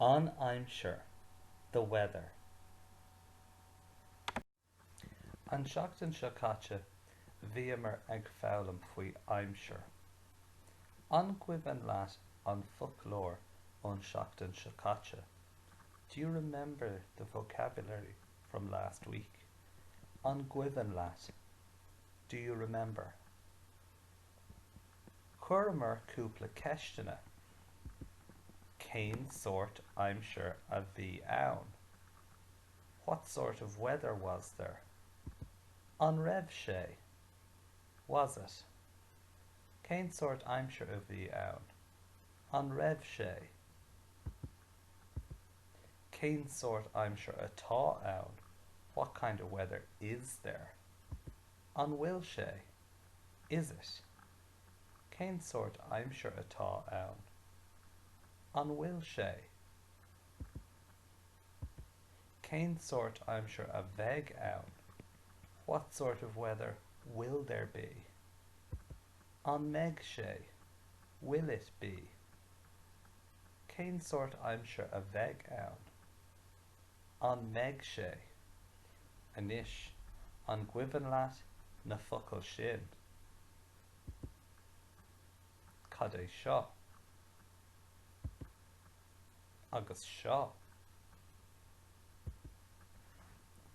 An aimsir, the weather. An tseachtain seo caite bhíomar ag foghlaim faoi aimsir. An gcuimhin leat an foclóir ón seachtain seo caite? Do you remember the vocabulary from last week? An gcuimhin leat? Do you remember? Chuireamar cúpla ceisteanna. Cén sórt aimsir a bhí ann? What sort of weather was there? An raibh sé? Was it? Cén sórt aimsir a bhí ann? An raibh sé? Cén sórt aimsir atá ann? What kind of weather is there? An bhfuil sé? Is it? Cén sórt aimsir atá ann? An bhfuil sé? Cén sórt aimsir a bheidh ann? What sort of weather will there be? An mbeidh sé? Will it be? Cén sórt aimsir a bheidh ann? An mbeidh sé? Anois, an gcuimhin leat na focail sin? Cad é seo? Agus seo?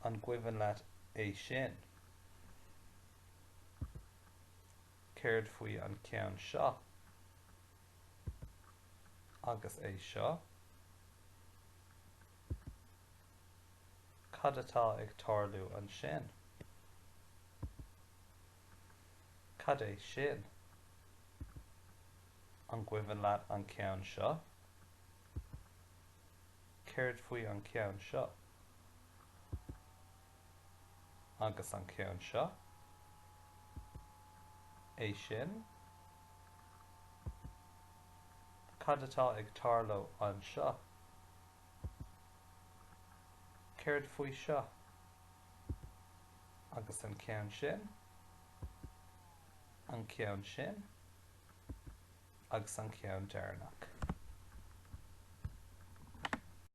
An gcuimhin leat é sin? Céard faoi an ceann seo? Agus é seo, cad atá ag tarlú ansin? Cad é sin? An gcuimhin leat an ceann seo? Céard faoi an ceann seo? agus an ceann seo, é sin, cad atá ag tarlú anseo, céard faoi seo, agus an ceann sin, an ceann sin, agus an ceann deireanach.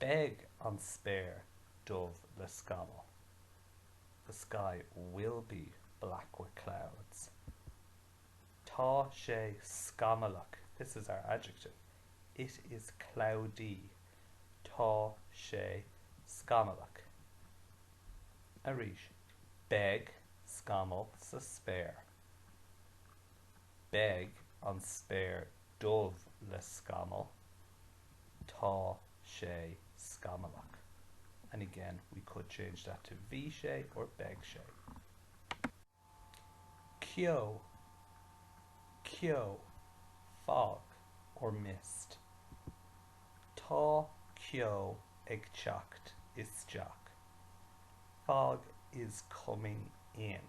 Beidh an spéir dubh le scamaill, The sky will be black with clouds. Tá sé scamallach, this is our adjective. It is cloudy. Tá sé scamallach. Arís, Beidh scamaill sa spéir. Beidh an spéir dubh le scamaill Tá sé scamallach. And again, we could change that to Bhí sé or Beidh sé. ceo Ceo, fog or mist Tá ceo ag teacht isteach. Fog is coming in.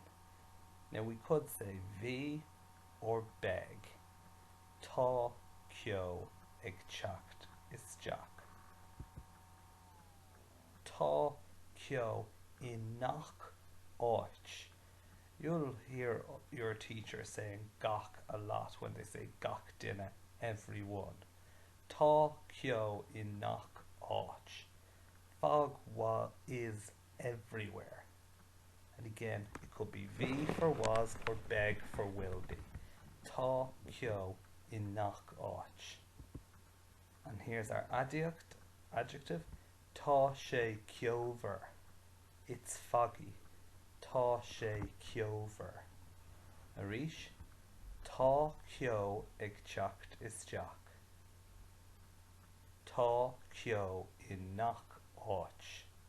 Now we could say Bhí or Beidh. Tá ceo ag teacht isteach. Tá ceo i ngach áit. You'll hear your teacher saying gach a lot when they say gach duine, everyone. Tá ceo i ngach áit. Fog is everywhere and again it could be bhí for was or beidh for will be tá ceo i ngach áit and here's our aidiacht, adjective, tá sé ceomhar it's foggy tá sé ceomhar arís tá ceo ag teacht isteach tá ceo i ngach áit.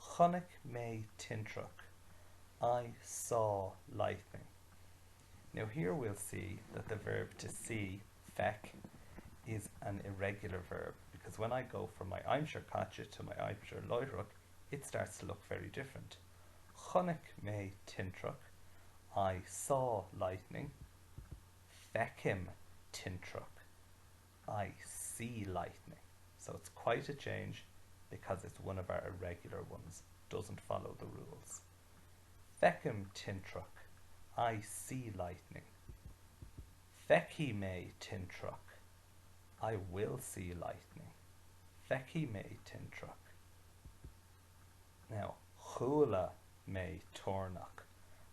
Chonaic mé tintreach, I saw lightning. Now here we'll see that the verb to see, feic, is an irregular verb because when I go from my aimsir caite to my aimsir láithreach it starts to look very different. Chonaic mé tintreach, I saw lightning. Feicim tintreach. I see lightning, so it's quite a change because it's one of our irregular ones, doesn't follow the rules. Feicim tintreach, I see lightning. Feicfidh mé tintreach, I will see lightning. Feicfidh mé tintreach. Now, chuala mé toirneach,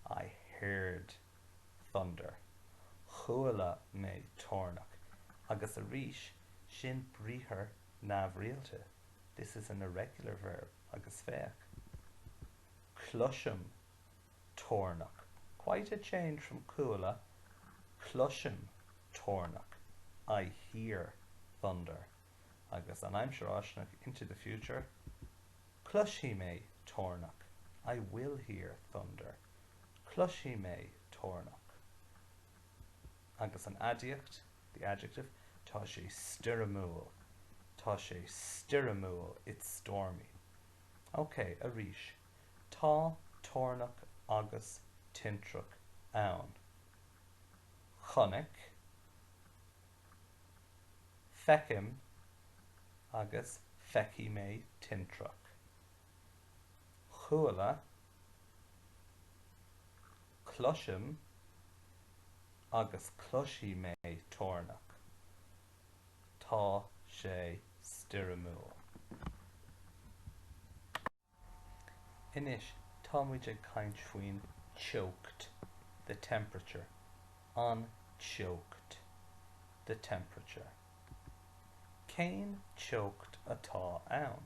I heard thunder, chuala mé toirneach, agus arís, sin briathar neamhrialta, this is an irregular verb, agus féach, cloisim toirneach, quite a change from chuala, cloisim toirneach, I hear thunder, agus an aimsir fháistineach, into the future, cloisfidh mé toirneach, I will hear thunder. Cloisfidh mé toirneach. Agus an aidiacht, the adjective, tá sé stoirmiúil, tá sé stoirmiúil, it's stormy. Ok, arís, tá toirneach agus tintreach ann. Chonaic, feicim agus feicfidh mé tintreach. Chuala, Cloisim agus cloisfidh mé toirneach. Tá sé stoirmiúil. Anois tá muid ag caint faoin teocht, the temperature. An teocht, the temperature. Cén teocht atá ann?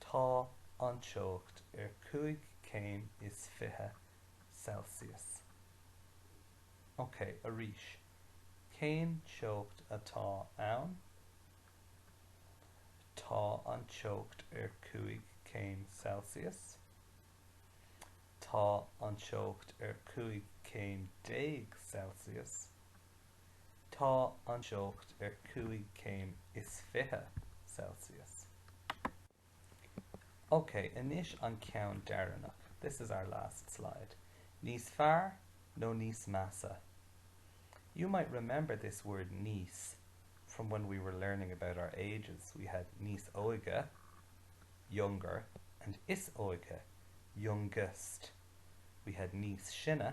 Tá an teocht ar cúig céim is fiche Celsius. Ok, arís. Cén teocht atá ann? Tá an teocht ar cúig céim Celsius. Tá an teocht ar cúig céim déag Celsius. Tá an teocht ar cúig céim is fiche Celsius. Ok, anois an ceann deireanach, this is our last slide. Níos fearr nó níos measa? You might remember this word níos from when we were learning about our ages. We had níos óige, younger, and is óige, youngest. We had níos sine,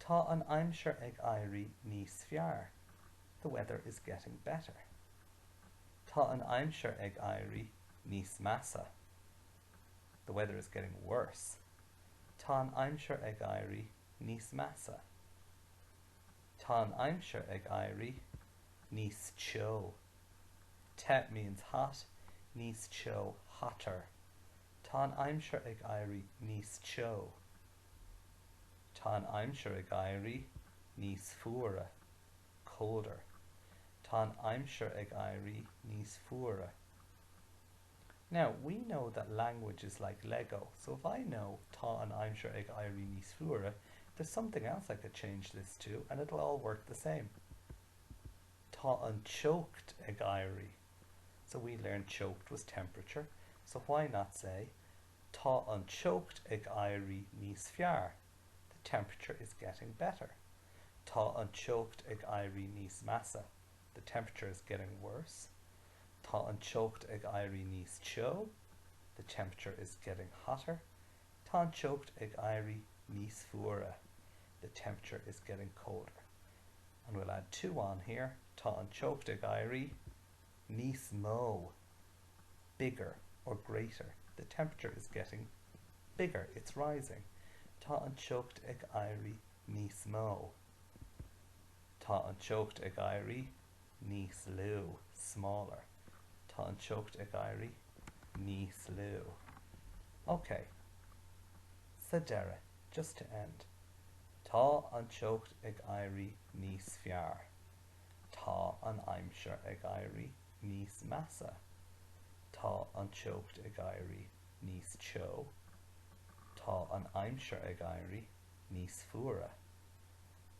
Tá an aimsir ag éirí níos fearr, the weather is getting better. Tá an aimsir ag éirí níos measa, the weather is getting worse. Tá an aimsir ag éirí níos measa. Tá an aimsir ag éirí níos teo, te means hot, níos teo hotter. Tá an aimsir ag éirí níos teo. Tá an aimsir ag éirí níos fuaire. colder Tá an aimsir ag éirí níos fuaire. Now, we know that language is like Lego, so if I know Tá an aimsir ag éirí níos fuaire, there's something else I could change this to and it'll all work the same. Tá an teocht ag éirí So we learned teocht was temperature, so why not say Tá an teocht ag éirí níos fearr, the temperature is getting better. Tá an teocht ag éirí níos measa, the temperature is getting worse. Tá an teocht ag éirí níos teo, the temperature is getting hotter. Tá an teocht ag éirí níos fuaire, the temperature is getting colder. And we'll add two on here, Tá an teocht ag éirí. níos mó, bigger or greater. The temperature is getting bigger, it's rising. Tá an teocht ag éirí níos mó. Tá an teocht ag éirí níos lú, smaller. Tá an teocht ag éirí níos lú. OK. Sa deireadh, just to end. Tá an teocht ag éirí níos fearr. Tá an aimsir ag éirí níos measa. Tá an teocht ag éirí níos teo. Tá an aimsir ag éirí níos fuaire.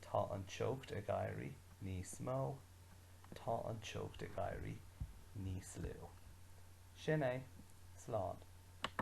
Tá an teocht ag éirí níos mó. Tá an teocht ag éirí níos lú. Sin é. Slán.